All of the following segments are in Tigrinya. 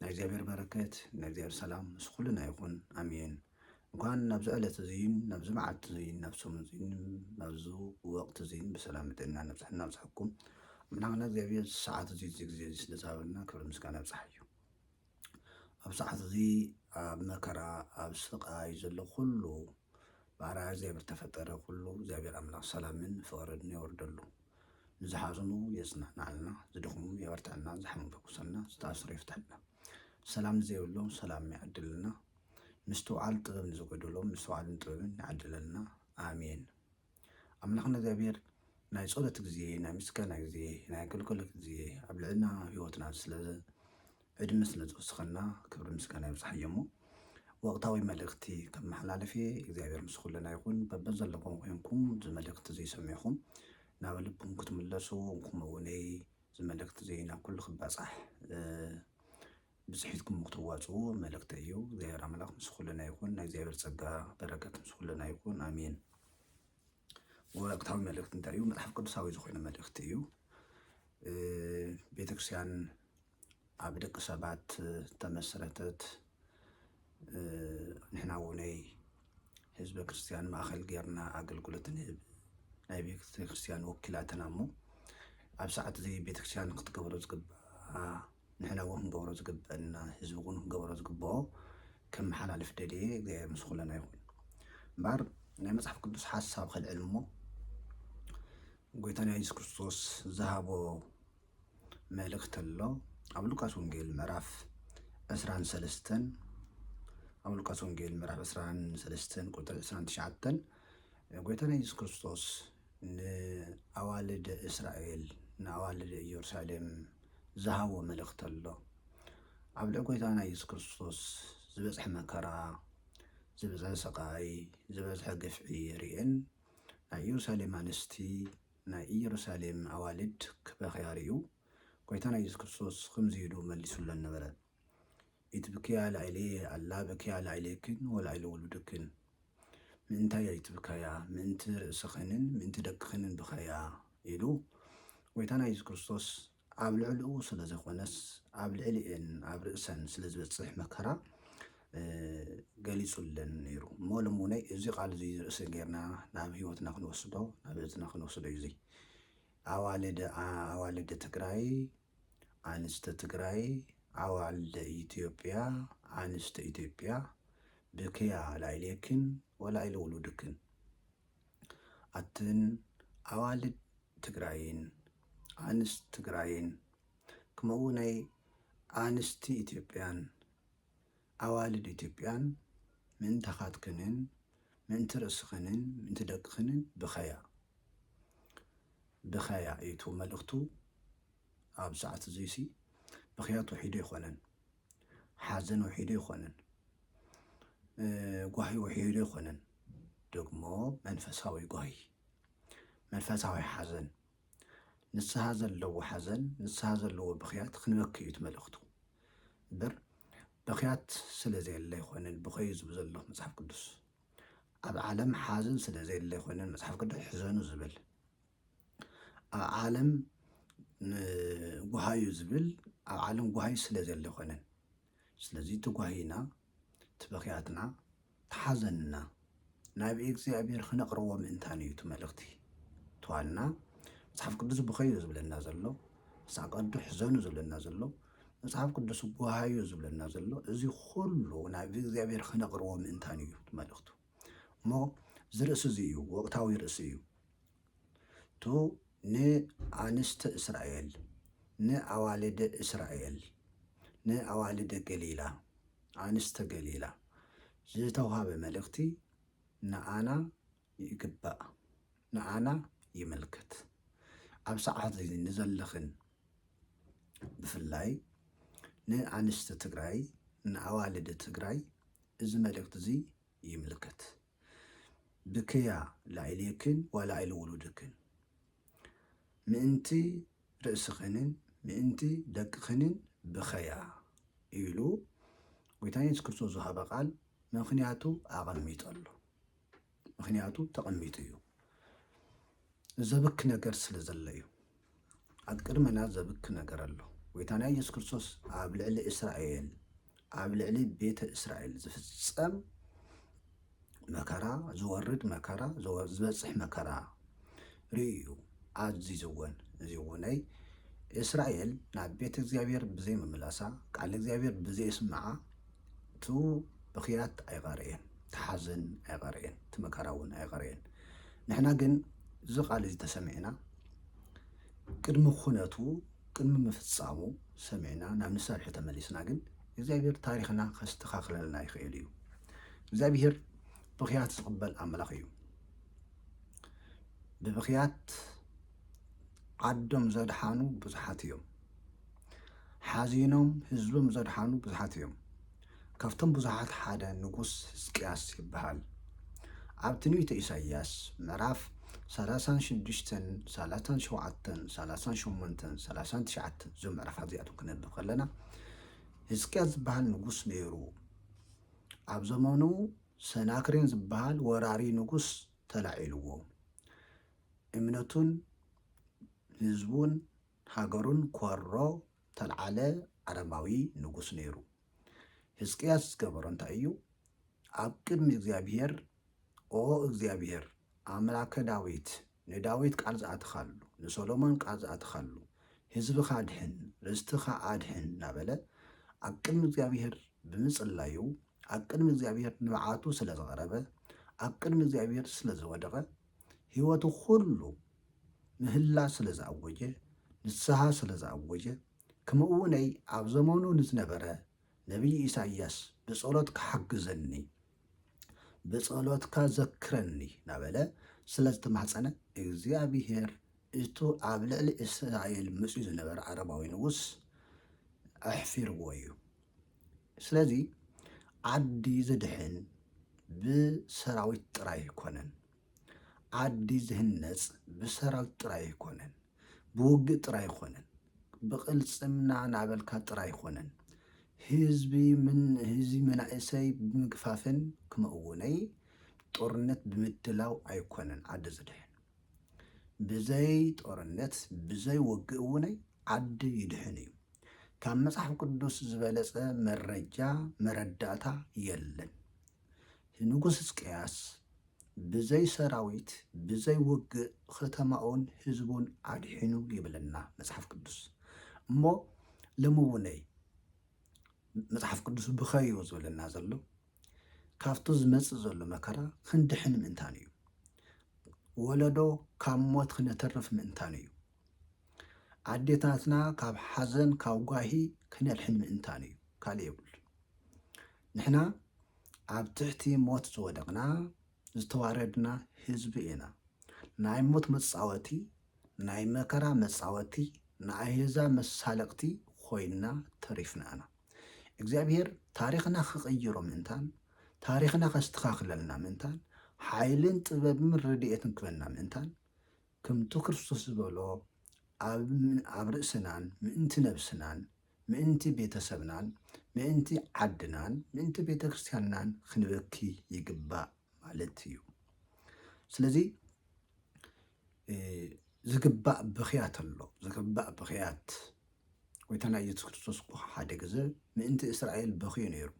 ናይ እግዚኣብሔር በረከት ናይ እግዚኣብሔር ሰላም ምስ ኩልና ይኹን ኣሜን። እንኳን ናብዚ ዕለት እዙይን ናብዚ መዓልቲ እዙይን ናብ ሰሙን እዙይን ናብዚ ወቅቲ እዙይን ብሰላም ጥዕና ነብፅሕና ኣብፅሐኩም ኣምላክና እግዚኣብሔር ሰዓት እዙይ እዚ ግዜ እዙይ ስለዝሃበና ክብሪ ምስጋና ይብፅሓዮ። ኣብ ሰዓት እዚ ኣብ መከራ ኣብ ስቃይ ዘሎ ኩሉ ብኣርኣያ እግዚኣብሔር ተፈጠረ ኩሉ እግዚኣብሔር ኣምላክ ሰላምን ፍቅርን የውርደሉ። ንዝሓዘኑ የፅነዕናዕልና፣ ዝደኽሙ የበርትዐልና፣ ዝሓመሙ ይፈውሰልና፣ ዝተኣሰሩ ይፍትሐልና፣ ሰላም ንዘይብሎም ሰላም ይዓድለና፣ ምስትውዓል ጥበብ ንዝጎደሎም ምስትውዓልን ጥበብን ይዓድለልና። ኣሜን። ኣምላኽና እግዚኣብሔር ናይ ጸሎት ግዜ ናይ ምስጋና ግዜ ናይ ኣገልግሎት ግዜ ኣብ ልዕልና ህይወትና ስለ ዕድመ ስለ ዝወስኸልና ክብሪ ምስጋና ይብጻሕዮ እሞ ወቕታዊ መልእኽቲ ከመሓላልፍ እየ እግዚኣብሔር ምስ ኩልና ይኹን በበዘለኹም ኮንኩም እዚ መልእኽቲ እዚ ሰሚዕኹም ናብ ልብኩም ክትምለሱ ከምኡ እውነይ እዚ መልእኽቲ እዚ ናብ ኩሉ ክባጻሕ ብፅሒትኩም ክትዋፅኡ መልእኽቲ እዩ እግዚኣብሔር ኣምላኽ ምስ ኩልና ይኹን ናይ እግዚኣብሔር ጸጋ በረከት ምስ ኩልና ይኹን ኣሜን መለኮታዊ መልእኽቲ እንተልዩ መፅሓፍ ቅዱሳዊ ዝኾነ መልእኽቲ እዩ። ቤተክርስቲያን ኣብ ደቂ ሰባት ተመስረተት ንሕና ውነይ ህዝበ ክርስቲያን ማእኸል ጌርና ኣገልግሎት ንህብ ናይ ቤተክርስቲያን ወኪላትና እሞ ኣብ ሰዓት እዚ ቤተክርስቲያን ክትገብሮ ዝግባኣ ንሕና እውን ክንገብሮ ዝግበእና ህዝቢ እውን ክገብሮ ዝግበኦ ከመሓላልፍ ደልየ እግዚኣብሔር ምስ ኩለና ይኹን እምበኣር ናይ መፅሓፍ ቅዱስ ሓሳብ ከልዕል እሞ ጎይታና የሱስ ክርስቶስ ዝሃቦ መልእክቲ ኣሎ ኣብ ሉቃስ ወንጌል ምዕራፍ ዕስራን ሰለስተን ኣብ ሉቃስ ወንጌል ምዕራፍ ዕስራን ሰለስተን ቁጥሪ ዕስራን ትሽዓተን ጎይታና የሱስ ክርስቶስ ንኣዋልድ እስራኤል ንኣዋልድ እዮርሳሌም ዝሃቦ መልእኽቲ ኣሎ ኣብ ልዕሊ ጎይታና የሱስ ክርስቶስ ዝበጽሐ መከራ ዝበዝሐ ስቓይ ዝበዝሐ ግፍዒ ርኤን ናይ ኢየሩሳሌም ኣንስቲ ናይ ኢየሩሳሌም ኣዋልድ ክበኽያ ርዩ ጎይታና የሱስ ክርስቶስ ኽምዚ ኢሉ መሊሱለን ነበረ ኢትብክያ ላዕሌየ ኣላ በክያ ላዕሌክን ወላዕለ ውሉድክን ምእንታይ ኣይትብካያ ምእንቲ ርእስኽንን ምእንቲ ደቅኽንን ብኸያ ኢሉ ጎይታና የሱስ ክርስቶስ ኣብ ልዕልኡ ስለ ዘኮነስ ኣብ ልዕሊኤን ኣብ ርእሰን ስለ ዝበጽሕ መከራ ገሊጹለን ነይሩ እሞ ሎም እውን እዚ ቃል እዚ ርእሲ ጌርና ናብ ህይወትና ክንወስዶ ናብ እዝና ክንወስዶ እዩ እዚ ኣዋልድ ኣዋልድ ትግራይ ኣንስቲ ትግራይ ኣዋልደ ኢትዮጵያ ኣንስቲ ኢትዮጵያ ብክያ ላይሌክን ወላይለ ውሉድክን ኣትን ኣዋልድ ትግራይን ኣንስት ትግራይን ክመኡ ናይ ኣንስቲ ኢትዮጵያን ኣዋልድ ኢትዮጵያን ምእንታኻትክንን ምእንቲ ርእስኽንን ምእንቲ ደቅኽንን ብኸያ ብኸያ እዩ እቲ መልእኽቱ ኣብ ሰዓት እዙይሲ ብኽያት ውሒዱ ኣይኮነን ሓዘን ውሒዱ ኣይኮነን ጓሂ ውሒዱ ኣይኮነን ደግሞ መንፈሳዊ ጓሂ መንፈሳዊ ሓዘን ንስሃ ዘለዎ ሓዘን ንስሃ ዘለዎ ብኽያት ክንበኪ እዩ መልእኽቱ እምበር ብኽያት ስለ ዘየለ ኣይኮነን ብኸዩ ዝብል ዘሎ መፅሓፍ ቅዱስ ኣብ ዓለም ሓዘን ስለ ዘየለ ኣይኮነን መፅሓፍ ቅዱስ ሕዘኑ ዝብል ኣብ ዓለም ጉሃዩ ዝብል ኣብ ዓለም ጉሃዩ ስለ ዘለ ኣይኮነን ስለዚ ትጓሂና፣ ትብኽያትና፣ ትሓዘንና ናብ እግዚኣብሔር ክነቕርቦ ምእንታን እዩ እቲ መልእኽቲ። ትዋልና መጽሓፍ ቅዱስ ብኸዩ ዝብለና ዘሎ፣ መጽሓፍ ቅዱስ ሕዘኑ ዝብለና ዘሎ፣ መጽሓፍ ቅዱስ ጓሃዩ ዝብለና ዘሎ፣ እዚ ኩሉ ናብ እግዚኣብሔር ክነቕርቦ ምእንታን እዩ እቲ መልእኽቱ። እሞ እዚ ርእሲ እዚ እዩ ወቕታዊ ርእሲ እዩ። ቱ ንኣንስቲ እስራኤል ንኣዋልድ እስራኤል ንኣዋልድ ገሊላ ኣንስቲ ገሊላ ዝተውሃበ መልእኽቲ ንኣና ይግባእ ንኣና ይምልከት ኣብ ሰዓት እዚ ንዘለኽን ብፍላይ ንኣንስቲ ትግራይ ንኣዋልድ ትግራይ እዚ መልእኽቲ እዚ ይምልከት። ብክያ ላኢሌክን ዋላ ኢሉ ውሉድክን ምእንቲ ርእስኽንን ምእንቲ ደቅኽንን ብኸያ ኢሉ ጎይታና የሱስ ክርስቶስ ዝሃበ ቃል ምኽንያቱ ኣቐሚጡ ኣሎ። ምኽንያቱ ተቐሚጡ እዩ። ዘብክ ነገር ስለ ዘሎ እዩ ኣብ ቅድመና ዘብክ ነገር ኣሎ ጎይታና ኢየሱስ ክርስቶስ ኣብ ልዕሊ እስራኤል ኣብ ልዕሊ ቤተ እስራኤል ዝፍጸም መከራ ዝወርድ መከራ ዝበፅሕ መከራ ርእዩ ኣዚዝወን እዚ እውነይ እስራኤል ናብ ቤተ እግዚኣብሔር ብዘይምምላሳ ቃል እግዚኣብሔር ብዘይስምዓ እቱ ብኽያት ኣይቐረየን፣ እቲ ሓዘን ኣይቐረየን፣ እቲ መከራ እውን ኣይቐረየን። ንሕና ግን እዚ ቃል እዚ ተሰሚዕና ቅድሚ ኩነቱ ቅድሚ ምፍፃሙ ሰሚዕና ናብ ንሰርሒ ተመሊስና ግን እግዚኣብሔር ታሪኽና ከስተኻኽለልና ይኽእል እዩ። እግዚኣብሔር ብኽያት ዝቕበል ኣምላኽ እዩ። ብብኽያት ዓዶም ዘድሓኑ ብዙሓት እዮም። ሓዚኖም ህዝቦም ዘድሓኑ ብዙሓት እዮም። ካብቶም ብዙሓት ሓደ ንጉስ ህዝቅያስ ይበሃል። ኣብ ትንቢተ ኢሳይያስ ምዕራፍ ሰላሳን ሽዱሽተን ሰላሳን ሸውዓተን ሰላሳን ሸሞንተን ሰላሳን ትሽዓተን እዞም ምዕራፋት እዚኣቶም ክነብብ ከለና ህዝቅያስ ዝበሃል ንጉስ ነይሩ። ኣብ ዘመኑ ሰናክሬን ዝበሃል ወራሪ ንጉስ ተላዒልዎ እምነቱን ህዝቡን ሃገሩን ኰሮ እተልዓለ ኣረማዊ ንጉስ ነይሩ። ህዝቅያስ ዝገበሮ እንታይ እዩ? ኣብ ቅድሚ እግዚኣብሄር፣ ኦ እግዚኣብሄር፣ ኣምላከ ዳዊት፣ ንዳዊት ቃል ዝኣተኻሉ፣ ንሰሎሞን ቃል ዝኣተኻሉ፣ ህዝብኻ ኣድሕን፣ ርስትኻ ኣድሕን እናበለ ኣብ ቅድሚ እግዚኣብሄር ብምጽላዩ፣ ኣብ ቅድሚ እግዚኣብሄር ንብዓቱ ስለ ዘቕረበ፣ ኣብ ቅድሚ እግዚኣብሄር ስለ ዝወደቐ፣ ህይወቱ ኩሉ ምህላ ስለ ዝኣወጀ ንስሃ ስለ ዝኣወጀ ክምኡውነይ ኣብ ዘመኑ ንዝነበረ ነብይ ኢሳይያስ ብጸሎትካ ሓግዘኒ ብጸሎትካ ዘክረኒ ናበለ ስለ ዝተማሕጸነ እግዚኣብሄር እቱ ኣብ ልዕሊ እስራኤል መጽዩ ዝነበረ ዓረባዊ ንጉስ ኣሕፊርዎ እዩ። ስለዚ ዓዲ ዝድሕን ብሰራዊት ጥራይ ኣይኮነን። ዓዲ ዝህነፅ ብሰራዊት ጥራይ ኣይኮነን፣ ብውግእ ጥራይ ኣይኮነን፣ ብቕልፅምና ናበልካ ጥራይ ኣይኮነን። ህዝቢ ምን ህዝቢ መናእሰይ ብምግፋፍን ክምኡውነይ ጦርነት ብምድላው ኣይኮነን ዓዲ ዝድሕን። ብዘይ ጦርነት ብዘይ ወግእ እውነይ ዓዲ ይድሕን እዩ። ካብ መጽሓፍ ቅዱስ ዝበለጸ መረጃ መረዳእታ የለን። ንጉስ ሕዝቅያስ ብዘይ ሰራዊት ብዘይ ውግእ ኸተማኡን ህዝቡን ኣድሒኑ ይብለና መጽሓፍ ቅዱስ እሞ ለምውነይ መጽሓፍ ቅዱስ ብኸዩ ዝብለና ዘሎ ካብቲ ዝመጽእ ዘሎ መከራ ክንድሕን ምእንታን እዩ ወለዶ ካብ ሞት ክነተርፍ ምእንታን እዩ ኣዴታትና ካብ ሓዘን ካብ ጓሂ ክነድሕን ምእንታን እዩ ካልእ የብሉ ንሕና ኣብ ትሕቲ ሞት ዝወደቕና ዝተዋረድና ህዝቢ ኢና ናይ ሞት መጻወቲ ናይ መከራ መጻወቲ ንኣሄዛብ መሳለቅቲ ኮይና ተሪፍና እና እግዚኣብሄር ታሪክና ክቅይሮ ምእንታን ታሪክና ከስተካክለልና ምእንታን ሓይልን ጥበብምን ረዲኤትን ክበና ምእንታን ክምቱ ክርስቶስ ዝበሎ ኣብ ርእስናን ምእንቲ ነብስናን ምእንቲ ቤተሰብናን ምእንቲ ዓድናን ምእንቲ ቤተክርስትያንናን ክንበኪ ይግባእ ማለት እዩ። ስለዚ ዝግባእ ብኽያት ኣሎ ዝግባእ ብኽያት ጎይታና ኢየሱስ ክርስቶስ እኮ ሓደ ግዘ ምእንቲ እስራኤል በኽዩ ነይሩ።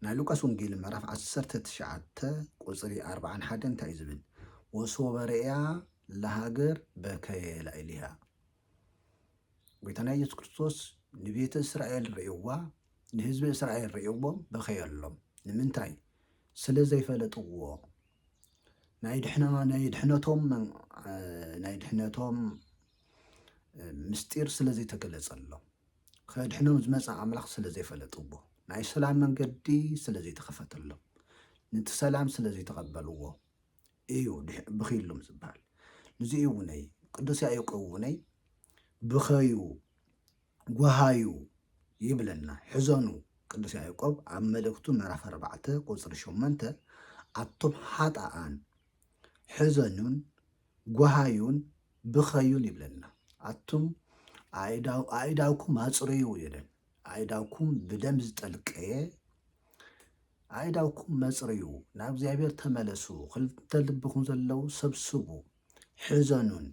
ናይ ሉቃስ ወንጌል ምዕራፍ 19 ቁፅሪ 41 እንታይ እዩ ዝብል? ወሶበ ርእያ ለሃገር በከየ ላዕሊሃ ጎይታና ኢየሱስ ክርስቶስ ንቤተ እስራኤል ርእይዋ ንህዝቢ እስራኤል ርእይዎም በኸየሎም። ንምንታይ? ስለ ዘይፈለጥዎ ናይ ድሕነቶም ናይ ድሕነቶም ምስጢር ስለ ዘይተገለጸሎም ከድሕኖም ዝመፀ ኣምላኽ ስለ ዘይፈለጥዎ ናይ ሰላም መንገዲ ስለ ዘይተኸፈተሎም ነቲ ሰላም ስለ ዘይተቐበልዎ እዩ ብኺሉም ዝበሃል ንዚ እውነይ ቅዱስ ያዕቆብ እውነይ ብኸዩ ጓሃዩ ይብለና ሕዘኑ ቅዱስ ያዕቆብ ኣብ መልእክቱ ምዕራፍ ኣርባዕተ ቁፅሪ ሸመንተ ኣቶም ሓጣኣን ሕዘኑን ጓሃዩን ብኸዩን ይብለና ኣቱም ኣእዳውኩም ኣፅርዩ ይለን ኣእዳውኩም ብደም ዝጠልቀየ ኣእዳውኩም መጽርዩ፣ ናብ እግዚኣብሔር ተመለሱ፣ ክልተ ልብኹም ዘለዉ ሰብስቡ፣ ሕዘኑን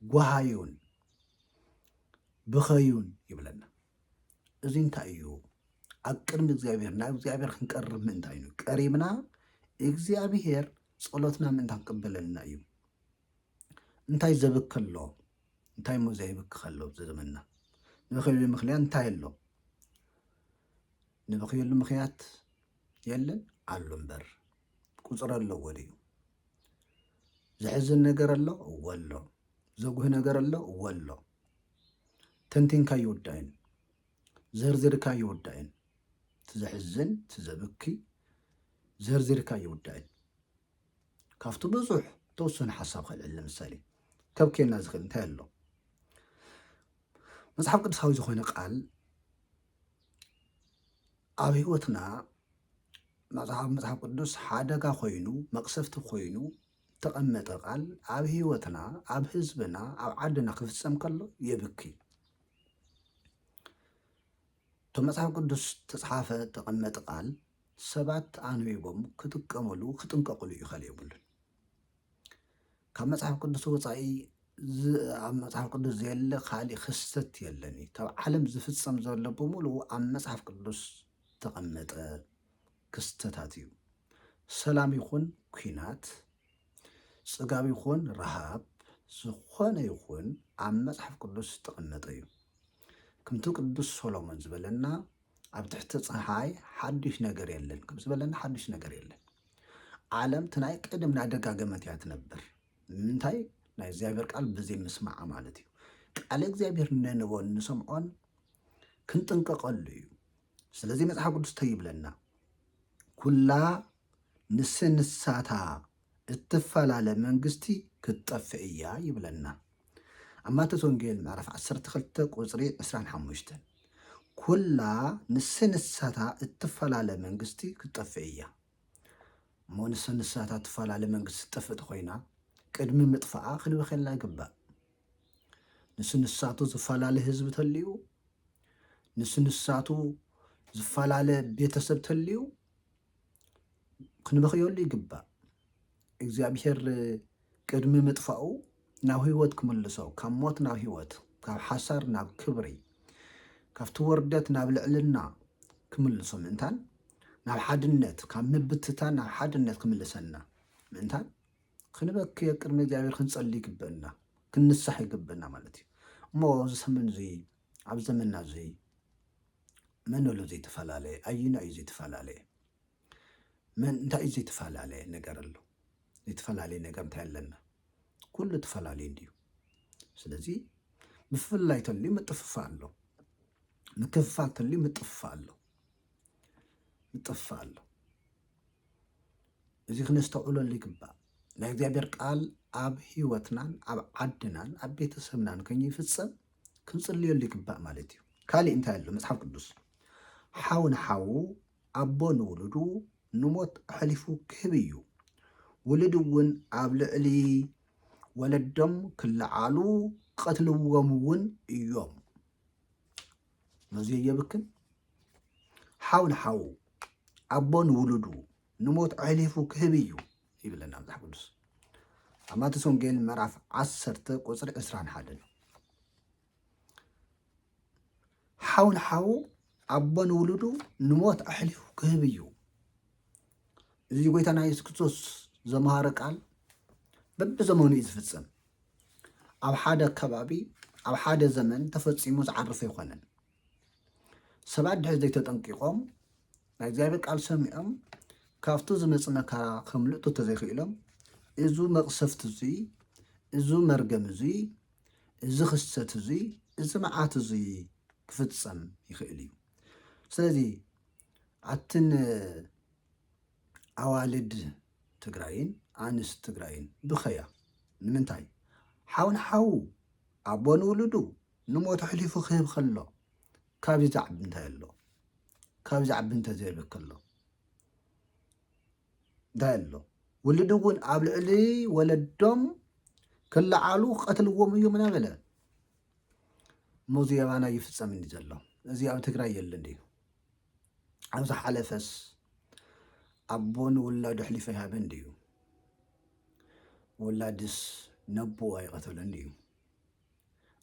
ጓሃዩን ብኸዩን ይብለና። እዚ እንታይ እዩ? ኣብ ቅድሚ እግዚኣብሔር ናብ እግዚኣብሔር ክንቀርብ ምእንታይ እዩ። ቀሪብና እግዚኣብሔር ጸሎትና ምእንታ ክቅበለልና እዩ። እንታይ ዘብከሎ እንታይ እሞ ዘይብክኽ ኣሎ ኣብዚ ዘመንና? ንበኽየሉ ምኽንያት እንታይ ኣሎ? ንበኽየሉ ምኽንያት የለን ኣሎ እምበር ቁፅሪ ኣለዎ ድዩ? ዘሕዝን ነገር ኣሎ እወ ኣሎ። ዘጉህ ነገር ኣሎ እወ ኣሎ። ተንቲንካ ይውዳእን ዘርዚርካ ይውዳእን እቲ ዘሕዝን እቲ ዘብኪ ዘርዚርካ ይውዳእን ካብቲ ብዙሕ ተወሰነ ሓሳብ ከልዕል ንምሳሌ ከብክየና ዝኽእል እንታይ ኣሎ መጽሓፍ ቅዱሳዊ ዝኾነ ቃል ኣብ ህይወትና መጽሓፍ መጽሓፍ ቅዱስ ሓደጋ ኮይኑ መቅሰፍቲ ኮይኑ ተቐመጠ ቃል ኣብ ህይወትና ኣብ ህዝብና ኣብ ዓድና ክፍጸም ከሎ የብኪ እቶ መጽሓፍ ቅዱስ ተጽሓፈ ተቐመጠ ቃል ሰባት ኣንቢቦም ክጥቀምሉ ክጥንቀቅሉ እዩ ከል የብሉን ካብ መጽሓፍ ቅዱስ ወፃኢ ኣብ መጽሓፍ ቅዱስ ዘየለ ካሊእ ክስተት የለን እዩ ካብ ዓለም ዝፍፀም ዘሎ ብምሉኡ ኣብ መጽሓፍ ቅዱስ ዝተቐመጠ ክስተታት እዩ ሰላም ይኹን ኩናት ጽጋብ ይኹን ረሃብ ዝኾነ ይኹን ኣብ መጽሓፍ ቅዱስ ዝተቐመጠ እዩ ከምቲ ቅዱስ ሶሎሞን ዝበለና ኣብ ትሕቲ ፀሓይ ሓዱሽ ነገር የለን ከም ዝበለና ሓዱሽ ነገር የለን። ዓለም እቲ ናይ ቅድም እናደጋገመት እያ ትነብር። ምንታይ ናይ እግዚኣብሔር ቃል ብዘይ ምስማዓ ማለት እዩ። ቃለ እግዚኣብሔር ነንበን ንሰምዖን ክንጥንቀቐሉ እዩ። ስለዚ መጽሓፍ ቅዱስ ተይብለና ኩላ ንስንሳታ እትፋላለ መንግስቲ ክትጠፍእ እያ ይብለና ኣብ ማቴዎስ ወንጌል ምዕራፍ ዓሰርተ ክልተ ቁጽሪ ዕስራን ሓሙሽተን ኩላ ንሰ ንሳታ እትፋላለ መንግስቲ ክትጠፍእ እያ እሞ ንሰ ንሳታ እትፋላለ መንግስቲ ትጠፍእ ተኾይና ቅድሚ ምጥፋኣ ክንበኸላ ይግባእ ንሱ ንሳቱ ዝፈላለ ህዝቢ ተልዩ ንሱ ንሳቱ ዝፈላለ ቤተሰብ ተልዩ ክንበኽየሉ ይግባእ። እግዚኣብሔር ቅድሚ ምጥፋኡ ናብ ህይወት ክምልሶ ካብ ሞት ናብ ህይወት ካብ ሓሳር ናብ ክብሪ ካብቲ ወርደት ናብ ልዕልና ክምልሶ ምእንታን ናብ ሓድነት ካብ ምብትታን ናብ ሓድነት ክምልሰና ምእንታን ክንበክየ ቅድሚ እግዚኣብሔር ክንጸሊ ይግበና ክንሳሕ ይግበና ማለት እዩ እሞ እዚ ሰመን እዚ ኣብ ዘመንና እዚ መን ኣሎ ዘይተፈላለየ? ኣዩና እዩ ዘይተፈላለየ? መን እንታይ እዩ ዘይተፈላለየ ነገር ኣሎ? ዘይተፈላለየ ነገር እንታይ ኣለና? ኩሉ ተፈላለዩ እንድዩ። ስለዚ ምፍልላይ ተልዩ ምጥፍፋእ ኣሎ፣ ምክፍፋል ተልዩ ምጥፍፋእ ኣሎ፣ ምጥፍፋእ ኣሎ። እዚ ክነስተውዕለሉ ይግባእ። ናይ እግዚኣብሔር ቃል ኣብ ህይወትናን ኣብ ዓድናን ኣብ ቤተሰብናን ከይፍጸም ክንጽልየሉ ይግባእ ማለት እዩ። ካሊእ እንታይ ኣሎ መጽሓፍ ቅዱስ ሓው ንሓዉ ኣቦ ንውሉዱ ንሞት ኣሕሊፉ ክህብ እዩ ውሉድ እውን ኣብ ልዕሊ ወለዶም ክለዓሉ ክቐትልዎም እውን እዮም ነዙይ የብክን ሓው ንሓዉ ኣቦ ንውሉዱ ንሞት ኣሕሊፉ ክህብ እዩ ይብለና መጽሓፍ ቅዱስ ኣብ ማቴዎስ ወንጌል ምዕራፍ ዓሰርተ ቁፅሪ ዕስራን ሓደን ሓው ንሓዉ ኣቦ ንውሉዱ ንሞት ኣሕሊፉ ክህብ እዩ እዚ ጎይታና የሱስ ክርስቶስ ዘምሃረ ቃል በብዘመኑ እዩ ዝፍፅም ኣብ ሓደ ከባቢ ኣብ ሓደ ዘመን ተፈፂሙ ዝዓርፍ ኣይኮነን ሰባት ድሕሪ ዘይተጠንቂቖም ናይ እግዚኣብሔር ቃል ሰሚዖም ካብቱ ዝመፅ መከራ ከምልጡ ተዘይክኢሎም እዙ መቕሰፍት እዙይ እዙ መርገም እዙይ እዚ ክሰት እዙይ እዚ መዓት እዙይ ክፍፀም ይኽእል እዩ ስለዚ ኣትን ኣዋልድ ትግራይን ኣንስ ትግራይን ብኸያ ንምንታይ ሓውን ሓዉ ኣቦ ንውሉዱ ንሞት ኣሕሊፉ ክህብ ከሎ ካብዚ ዝዓቢ እንታይ ኣሎ? ካብዚ ዝዓቢ እንተዘየሎ ከሎ እንታይ ኣሎ? ውልድ እውን ኣብ ልዕሊ ወለዶም ክለዓሉ ክቐትልዎም እዮም ኢና በለ። እሞ እዚ የባና ይፍፀም እንዲ ዘሎ እዚ ኣብ ትግራይ የለ እንዲ ኣብ ዝሓለፈስ ኣቦ ንውላዱ ኣሕሊፈ ይሃበ እንድዩ ወላድስ ነቦ ኣይቐተለን ድዩ?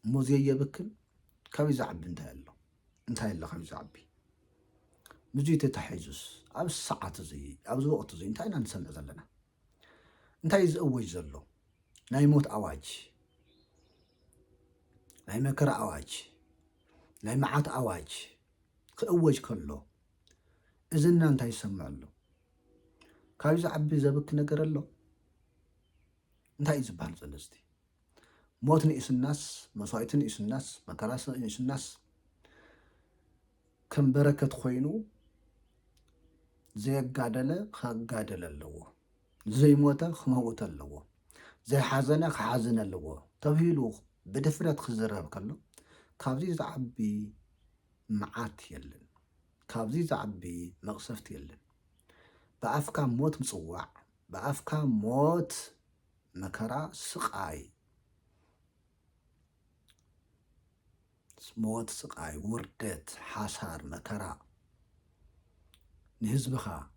እሞ ዘየብክን ካብይ ዝዓቢ እንታይ ኣሎ እንታይ ኣሎ ካብይ ዝዓቢ ምዙይ ተታሒዙስ ኣብ ሰዓት እዚ ኣብዚ ወቅት እዚ እንታይ ኢና ንሰምዕ ዘለና እንታይ እዩ ዝእወጅ ዘሎ ናይ ሞት ኣዋጅ ናይ መከራ ኣዋጅ ናይ መዓት ኣዋጅ ክእወጅ ከሎ እዝና እንታይ ይሰምዕ ኣሎ ካብይ ዝዓቢ ዘብኪ ነገር ኣሎ እንታይ እዩ ዝበሃል ዘሎ ሞት ንኢሱናስ መስዋኢቲ ንኢሱናስ መከራ ንኢሱናስ ከም በረከት ኮይኑ ዘየጋደለ ካጋደለ ኣለዎ ዘይሞተ ክመውት ኣለዎ ዘይሓዘነ ክሓዝን ኣለዎ ተብሂሉ ብድፍረት ክዝረብ ከሎ ካብዚ ዝዓቢ መዓት የለን ካብዚ ዝዓቢ መቕሰፍቲ የለን ብኣፍካ ሞት ምፅዋዕ ብኣፍካ ሞት መከራ ስቃይ ሞት ስቃይ ውርደት ሓሳር መከራ ንህዝብኻ